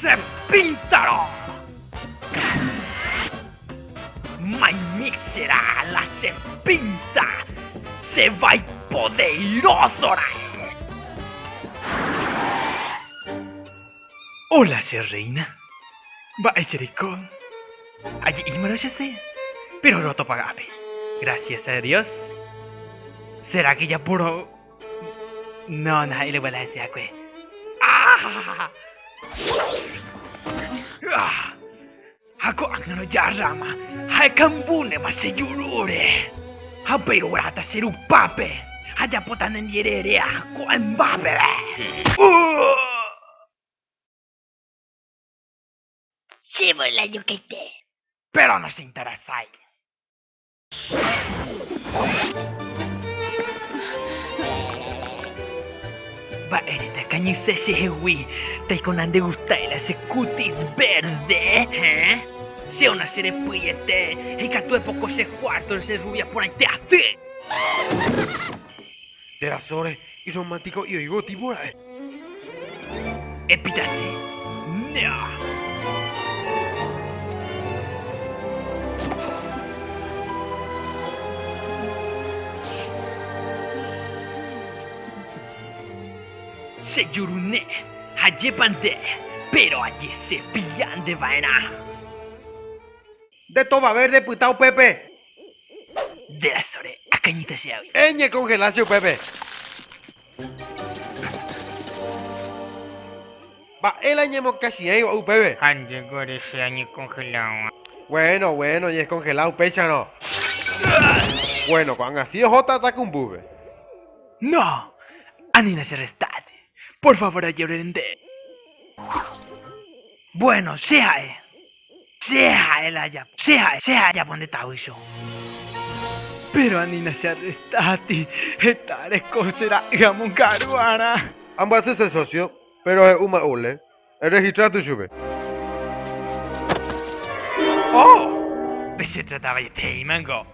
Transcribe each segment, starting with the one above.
Che píntaro! Maimíchera la che pínta! Che vai podeíroso raẽ! Óla che rréina! Mba'e che reiko? Aje'ímarõ che se, péro roto paga ápe. Grasias a Dios! Sérake japoro. No, no ha'e leguala hese hakue. ¡Ah! ¡Ah! Ha ko'ág̃arõ jarráma ha ekambúnema che jurúre. Ha upéi rogueráta che rupápe ha ajapóta nendiererea ko'ãmbápe. Che volá jokaite. Péro no che interesa. Mba'érepa kañyse chehegui, taiko nandegustáirõ che cutis verde, héẽ? Che ona che repy'ete, heikatúe poko che cuarto che rubia porãite asy. Térã sóre, irromántico y oigo tipo ra'e. Epitaje, Nea. Che jurune, jajépa nde, péro ajesepilla nde va'erã. Nde tova verde pyta upépe. Nde rasõ re, akañýta che águi. E ñe kongela che upépe. Mba'e la ñemokachi'ãiva upépe. Ha nde gore che añekongela'õva. Bueno, bueno, ñaeskongelá upéicharõ. Bueno, ko'ág̃a si oho tata kumbúpe. No, anína che restáte. Por favor ajerure nde. Bueno, che ha'e. Che ha'e la ajapo. Che ha'e, che ha'e ajapo nde tavy cho. Péro anína che arrestáti, heta reko che ra'y amongaru'arã. Ambyasy che sósio, péro he'u ma'ule, erregistra tu chupe. Oh! Pechetratavaietéima niko.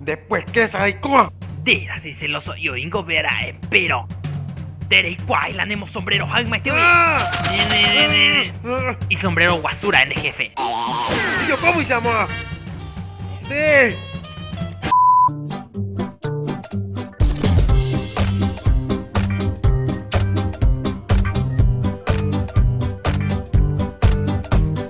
Después késa reikóva. Nde rasy seloso'i oĩngo vera'e, péro nde reikuaái la ne mosombrero haymaite oi. Isombrero guasu ra'e nde jefe. Yo cómo hice amor a usted.